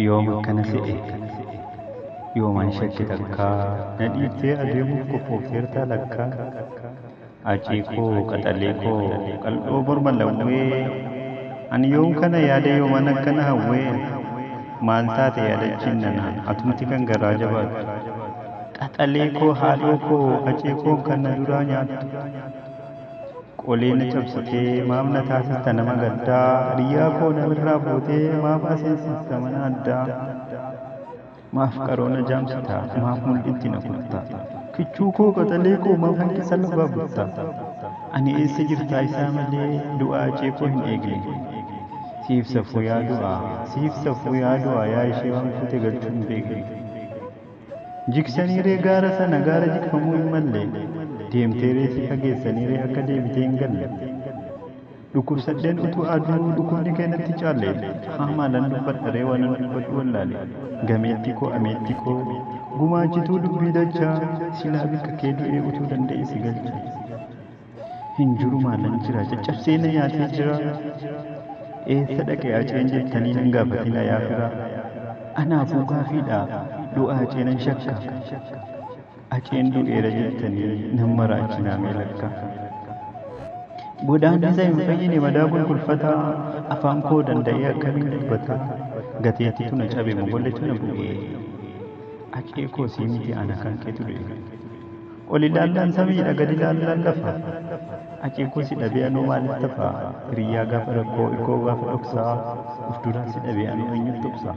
yoom akkana se'e yoomaan shakke takkaa na dhiiftee adeemuuf qophoofteertaa lakkaa Hacii koo qaxalee koo qal'oo morma lawwee Ani yoom kana yaade yooman akkana hawwee Maal taate yaadachiin nana atumti kan garaa jabaattu Qaxalee koo haadhoo koo hacee koon kan na duraa nyaattu Qolee na cabsitee maaf na taasista nama gaddaa Hiryaa koo na birraa fuutee maaf aseensista mana addaa. Maaf qaroo na jaamsitaa maaf mul'itti na kuttaa Kichuu koo qaxalee koo maaf hanqisa lafaa buttaa Ani eessa jirtaa isaa malee du'aa icee koo hin eegne Siif safuu yaa du'aa siif safuu yaa du'aa yaa ishee waan fuute galchuu hin beekne Jigsanii ree gaara sana gaara jigfamuu hin malle Deemtee ree si fageessanii ree akka deebitee hin galle. Dhukkubsadheen utuu aduu dhukkubni kee natti caalle haa maalan dubbadha ree waanan dubbadhu wallaale gameettii koo ameettii koo gumaachituu dubbii dachaa silaa bikka kee du'ee utuu danda'ee si galcha hin jiru maalan jira caccabsee na nyaatee jira eessa dhaqee aceen jettanii nan gaafatina yaa firaa anaafuu gaafiidha du'aa acee nan shakka Haceen du'eera jettanii nan maraachinaa mee lakka. Godaanni isa hin fayyine madaa gulgulfata afaan koo danda'ee akkamiin dubbata gateettitu na cabe mogolletu na bu'ee hacee koo sii miti ana kan keetu du'e ol ilaallaan samiidha gad ilaallaan lafa hacee koo si dhabee anoo maaliif tafa hiriyyaa gaafa rakkoo irkoo gaafa dhoksaa of duraa si dhabee anoo eenyutu dhoksaa.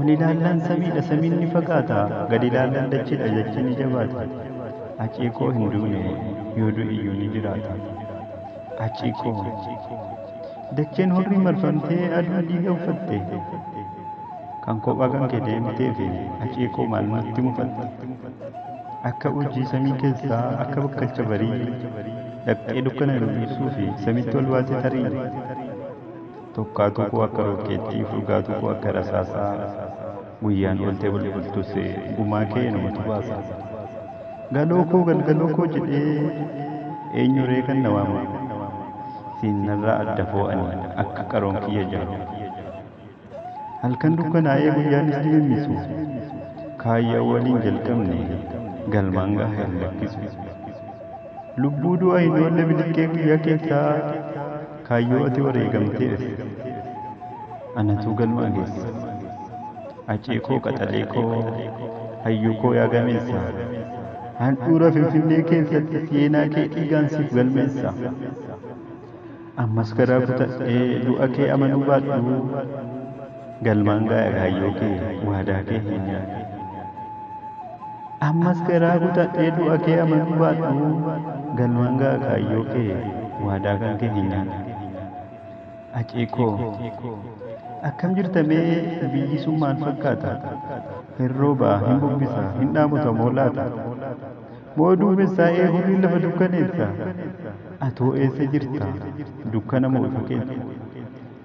Ol ilaallaan samiidha samiin ni fagaata gad ilaallaan dachiidha dachiin ni jabaata aciikoo hin duune yoo du'iyyuu ni jiraata aciikoo dacheen hurrii marfamtee aduun dhiiga uffatte kan kophaa kan kee deemtee fi aciikoo maal nutti mufatte akka urjii samii keessaa akka bakkalcha barii dhaqxee dukkana duumessuu fi samitti ol baate tarii Tokkaatuu koo akka rookkeettii furgaatuu koo akka rasaasaa Guyyaan ooltee bulbultus gumaa kee numatu baasa Galoo koo galgaloo koo jedhee eenyuree kan na waama Siin narraa adda foo ani akka qaroon kiyya jaamu Halkan dukkanaa'ee guyyaan is dimimmisu Kaayyoo waliin jalqabne galmaan gaha hin lakkisu. Lubbuu du'a hin oolle biliqqee guyyaa keessaa kaayyoo ati wareegamteef anatuu galmaa geessa. Acee koo qaxalee koo hayyuu koo yaa gameessa. Handhuura Finfinnee keessatti seenaa kee dhiigaan siif galmeessa. Ammas garaa kutadhee du'a kee amanuu baadhuu galmaan gaaya kaayyoo kee waadaa kee hin nyaadhu. Ammas garaa kutadhee du'a kee amanuu baadhuu galmaan gaaya kaayyoo kee waadaa kan kee hin nyaadhu. Acee koo akkam jirta mee biyyi sun maal fakkaata? Hin roobaa, hin bubbisa, hin dhaamotamoo laata? Moo duumessaa ee hurrii lafa dukkaneessa? Atoo eessa jirta? Dukkana moo ifa keessa?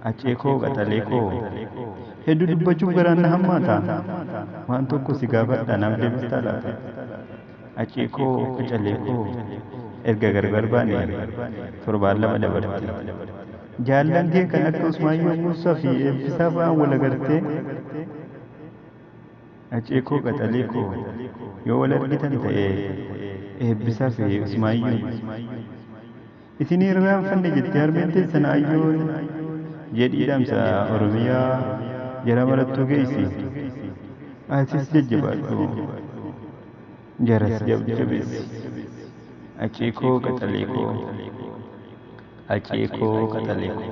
Acee koo qaxalee koo Hedduu dubbachuuf garaan na hammaata Waan tokko si gaafadha naaf deebistaa laata? Acee koo qacalee koo Erga gargar baane torbaan lama dabarte Jaallan kee kan akka Usmaayyoo Muusaa fi Eebbisaa fa'aan wal agartee? Hacee koo qaxalee koo yoo wal argitan ta'ee Eebbisaa fi Usmaayyuun isin hin irraanfanne jetti harmeen teessan Aayyoon jedhii dhaamsa Oromiyaa jara marattuu geessi atis jajjabaadhu jaras jabjabeessi Hacee koo qaxalee koo Hacee koo qaxalee koo.